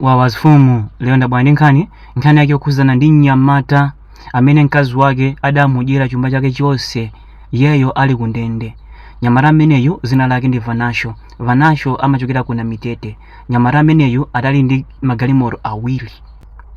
wawa zifumu lero ndabwera ndi nkhani nkhani yake yokhudzana ndi mnyamata amene mkazi wake adamudyera chuma chake chonse iyeyo ali ku ndende mnyamata ameneyu dzina lake ndi vanasho vanasho amachokera ku namitete mnyamata ameneyu adali ndi magalimoto awiri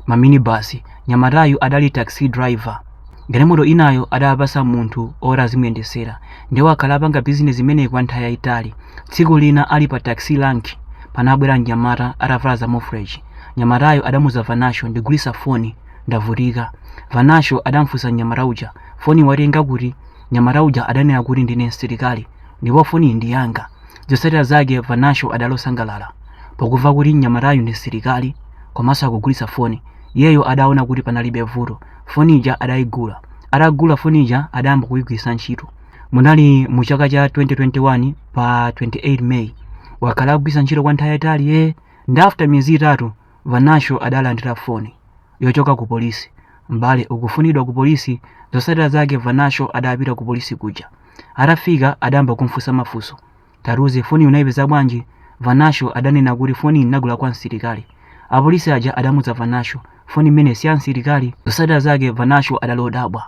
maminibasi mnyamatayu adali taxi driver Galimoto inayo adapasa munthu oti azimuyendetsera nde wakhala apanga bizinesi imeneyi kwa nthawi yayitali. Tsiku lina ali pa taxi rank panabwera mnyamata atavala za mofreji. Mnyamatayo adamuuza Vanasho ndigulitsa foni ndavutika. Vanasho adamfunsa mnyamata uja foni watenga kuti? Mnyamata uja adanena kuti ndine msilikali ndipo foniyi ndi yanga. Zotsatira zake Vanasho adali osangalala pokumva kuti mnyamatayu ndi msilikali komanso akugulitsa foni. Iyeyo adaona kuti panalibe vuto. foni ija adayigula atagula foni ija adayamba kuyigwiritsa ntchito munali mu chaka cha 2021 pa 28 may wakhala akugwiritsa ntchito kwa nthawi yayitali nde after miyezi itatu vanasho adalandira foni yochoka ku polisi m'bale ukufunidwa ku polisi zotsatira zake vanasho adapita ku polisi kuja atafika adayamba kumfunsa mafunso Tatiuze, foniyi unaipeza bwanji? Vanasho adanena kuti foniyi ndinagula kwa msilikali. Apolisi aja adamuuza Vanasho, foni imeneyi si ya msilikali. Zotsatira zake Vanasho adali odabwa.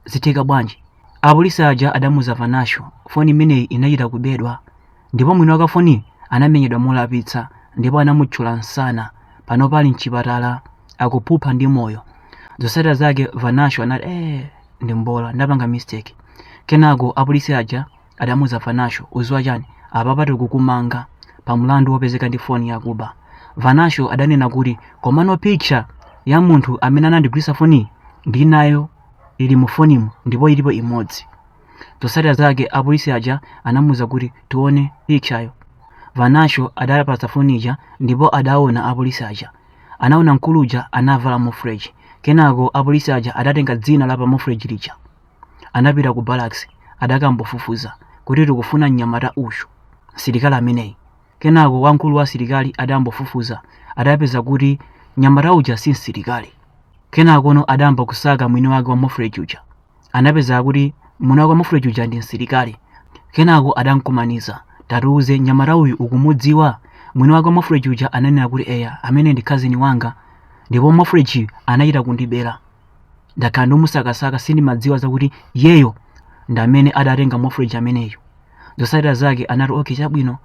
Zitheka bwanji? Apolisi aja adamuuza Vanasho, foni imeneyi inachita kubedwa ndipo mwini wake wa foniyi anamenyedwa molapitsa ndipo anamuthyola msana. Panopa ali m'chipatala akuphupha ndi moyo. Zotsatira zake Vanasho anati, Eee, ndi mbola, ndapanga mistake. Kenako apolisi aja Adamuuza Vanasho, Udziwa chani? Apapa tikukumanga pa mlandu wopezeka ndi foni yakuba. Vanasho adanena kuti, Komano picture ya munthu amene anandigulitsa foniyi ndili nayo ili mu fonimu ndipo ilipo imodzi. Zotsatira zake apolisi aja anamuuza kuti, Tione pictureyo. Vanasho adapatsa foni ija ndipo adaona apolisi aja. Anaona mkulu uja anavala mofreji. Kenako apolisi aja adatenga dzina la pa mofreji lija. anapita ku barracks adakambofufuza kuti tikufuna mnyamata uyu, msilikali ameneyu. Kenako wamkulu wa asilikali adambofufuza adapeza kuti mnyamata uja si msilikali. Kenakono adayamba kusaka mwini wake wa mofreji uja. Anapeza kuti mwini wake wa mofreji uja ndi msilikali. Kenako adamkumaniza, tatiuze mnyamata uyu ukumudziwa? Mwini wake wa mofreji uja ananena kuti eya, ameneyu ndi cousin wanga ndipo mofreji anachita kundibera. ndakhala ndimusakasaka sindimadziwa zakuti iyeyo ndamene adatenga mofreji ameneyo zotsatira zake anati okay chabwino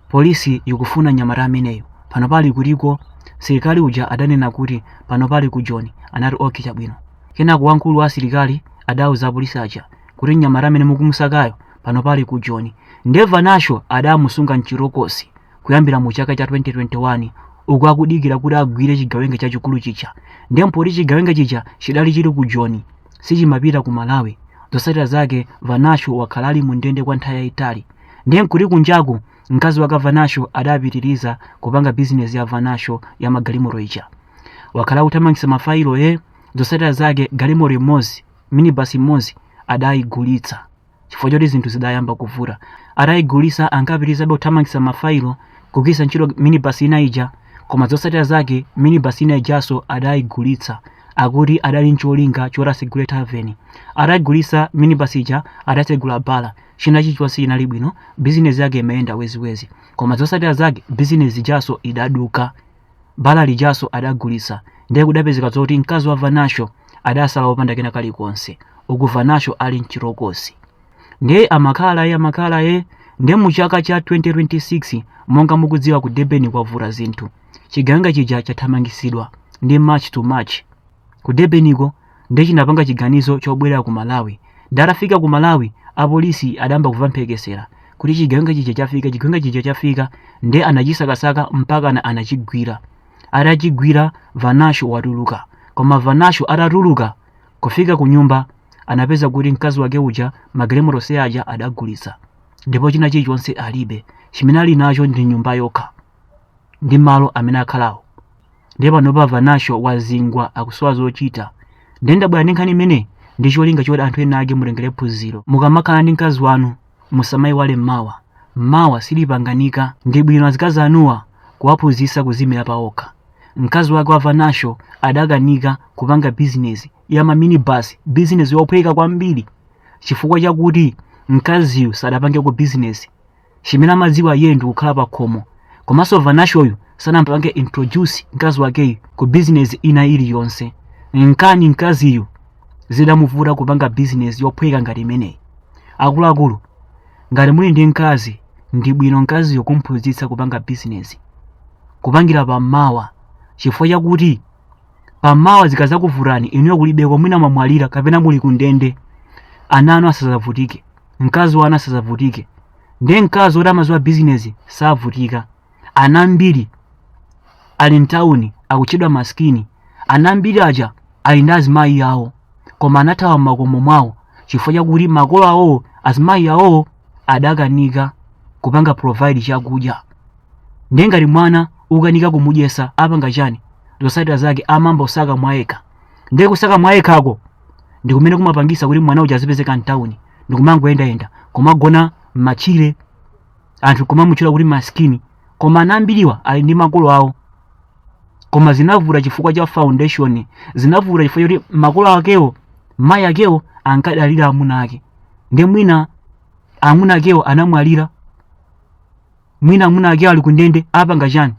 polisi ikufuna mnyamata ameneyu panopa ali kutiko msilikali uja adanena kuti panopa ali ku joni anati okay chabwino kenako wamkulu wa asilikali adauza apolisi aja kuti mnyamata amene mukumusakayo panopa ali ku joni nde vanasho adamusunga mchitokosi kuyambira mu chaka cha 2021 uku akudikira kuti agwire chigawenga chachikulu chija ndiye mpoti chigawenga chija chidali chili ku joni sichimapita ku malawi zotsatira zake vanasho wakhala ali mu ndende kwa nthawi yayitali ndiye nkuti kunjaku mkazi wake vanasho adapitiriza kupanga bizinesi ya vanasho ya magalimoto ija wakhala akuthamangitsa mafayilo zotsatira zake galimoto imodzi minibasi imodzi adayigulitsa chifukwa choti zinthu zidayamba kuvuta atayigulisa ankapitirizabe kuthamangitsa mafailo kugwiritsa ntchito minibus ina ija koma zotsatira zake minibus ina ijanso adayigulitsa akuti adali ncholinga choti asegule taveni atayigulisa minibus ija adasegula bala china chilichonse chinali bwino bizinesi yake imayenda weziwezi koma zotsatira zake bizinesi ijanso idaduka bala lijanso adagulitsa ndiye kudapezeka zoti mkazi wa vanasho adasala wopanda kena kake kalikonse uku vanasho ali mchitokosi ndiye amakhala ye amakhala ye ndiye mu chaka cha 2026 monga mukudziwa ku durban kwavuta zinthu chigawenga chija chathamangisidwa ndi march to march ku Durbaniko ndiye chinapanga chiganizo chobwerera ku Malawi ndiye atafika ku Malawi apolisi adayamba kuva mphekesera kuti chigawenga chija chafika chigawenga chija chafika ndiye anachisakasaka mpakana anachigwira atachigwira Vanasho watuluka koma Vanasho atatuluka kufika ku nyumba anapeza kuti mkazi wake uja magalimoto onse aja adagulitsa ndipo china chilichonse alibe chimene ali nacho ndi nyumba yokha ndi malo amene akhalawo ndiye panopa vanasho wazingwa akusowa zochita ndiye ndabwera ndi nkhani imene ndi cholinga choti anthu ena ake mutengere phunziro mukamakhala ndi mkazi wanu musamayiwale mmawa mmawa silipanganika ndi bwino azikazi anuwa kuwaphunzitsa kuzimira paokha mkazi wake wa vanasho adakanika kupanga bizinesi ya maminibasi bizinesi yophweka kwambiri chifukwa chakuti mkaziyu sadapangeko bizinesi chimene amadziwa iyeyo ndikukhala pa khomo komanso vanashoyu sanampange introduce mkazi wakeyu ku bizinesi ina iliyonse nkani mkaziyu zidamuvuta kupanga bizinesi yophweka ngati imeneyi akuluakulu ngati muli ndi mkazi ndi bwino mkaziyo kumphunzitsa kupanga bizinesi kupangira pamawa chifukwa chakuti pamawa zikazakuvutani inuyo kulibeko mwina mwamwalira kapena muli kundende ana anu asazavutike mkazi wanu asazavutike ndiye mkazi woti amaziwa bizinesi savutika ana ambiri ali mtawuni akutchedwa masikini ana ambiri aja ali ndi azimayi awo koma anathawa m'makomo mwawo chifukwa chakuti makolo awowo azimayi awowo adakanika kupanga provide chakudya ndiye ngati mwana ukanika kumudyesa apanga chani zosatira zake amayamba kusaka mwayekha ndiye kusaka mwayekhako ndi kumene kumapangisa kuti mwana uja azipezeka mtawuni ndi kumangoyendayenda kumagona m'matchire anthu kumamutchula kuti maskini koma ana ambiriwa ali ndi makolo awo koma zinavuta chifukwa cha foundation zinavuta chifukwa choti makolo akewo mayi akewo ankadalira amuna ake ndiye mwina amuna akewo anamwalira mwina amuna akewo ali kundende apanga chani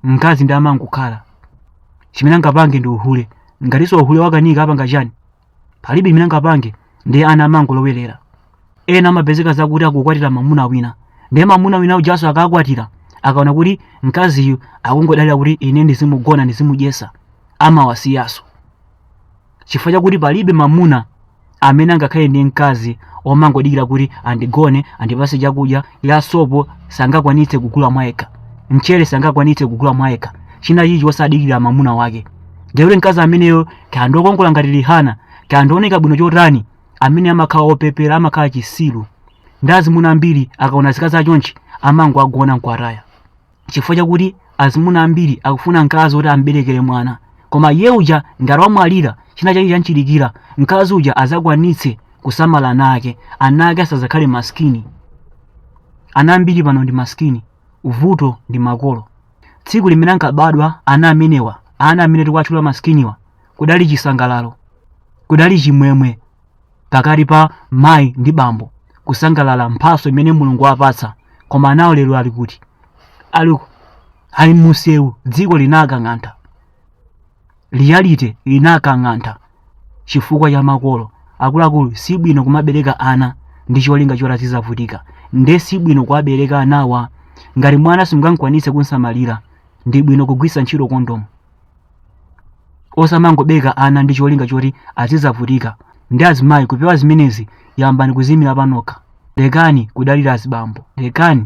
mkazi ndiye amangokhala chimene angapange ndi uhule ngatinso uhule wakanika apanga chani palibe chimene angapange ndiye ana amangolowerera ena amapezeka zakuti akukwatira mamuna wina ndiye mamuna wina ujanso akakwatira akaona kuti mkaziyu akungodalira kuti ine ndizimugona ndizimudyesa amawasiyanso chifukwa chakuti palibe mamuna amene angakhale ndi mkazi omangodikira kuti andigone andipase chakudya ya sopo sangakwanitse kugula mwayekha mchere sangakwanitse kugula mwayekha china chilichonse osadikira mamuna wake ndekuti mkazi ameneyo kaya ndi okongola ngati Rihanna kaya ndi ooneka bwino chotani amene amakhala opepera amakhala chisilu ndiye azimuna ambiri akaona azikazi achonchi amangowagona nkuwataya chifukwa chakuti azimuna ambiri akufuna mkazi woti amberekere mwana koma iye uja ngati wamwalira china chake chanchilikira mkazi uja azakwanitse kusamala ana ake ana ake asazakhale maskini ana ambiri pano ndi maskini vuto ndi makolo tsiku limene ankabadwa ana amenewa ana amene tikuwatchula maskiniwa kudali chisangalalo kudali chimwemwe pakati pa mayi ndi bambo kusangalala mphaso imene mulungu wapatsa koma anawo lero ali kuti ali mumsewu dziko linakang'antha reality linakang'antha chifukwa cha makolo akuluakulu si bwino kumabereka ana ndi cholinga choti azizavutika nde si bwino kuwabereka anawa ngati mwana simungakwanitse kumsamalira ndi bwino kugwiritsa ntchito kondomu osamangobereka ana ndi cholinga choti azidzavutika ndiye azimayi kupewa zimenezi yambani kuziimira panokha lekani kudalira azibambo lekani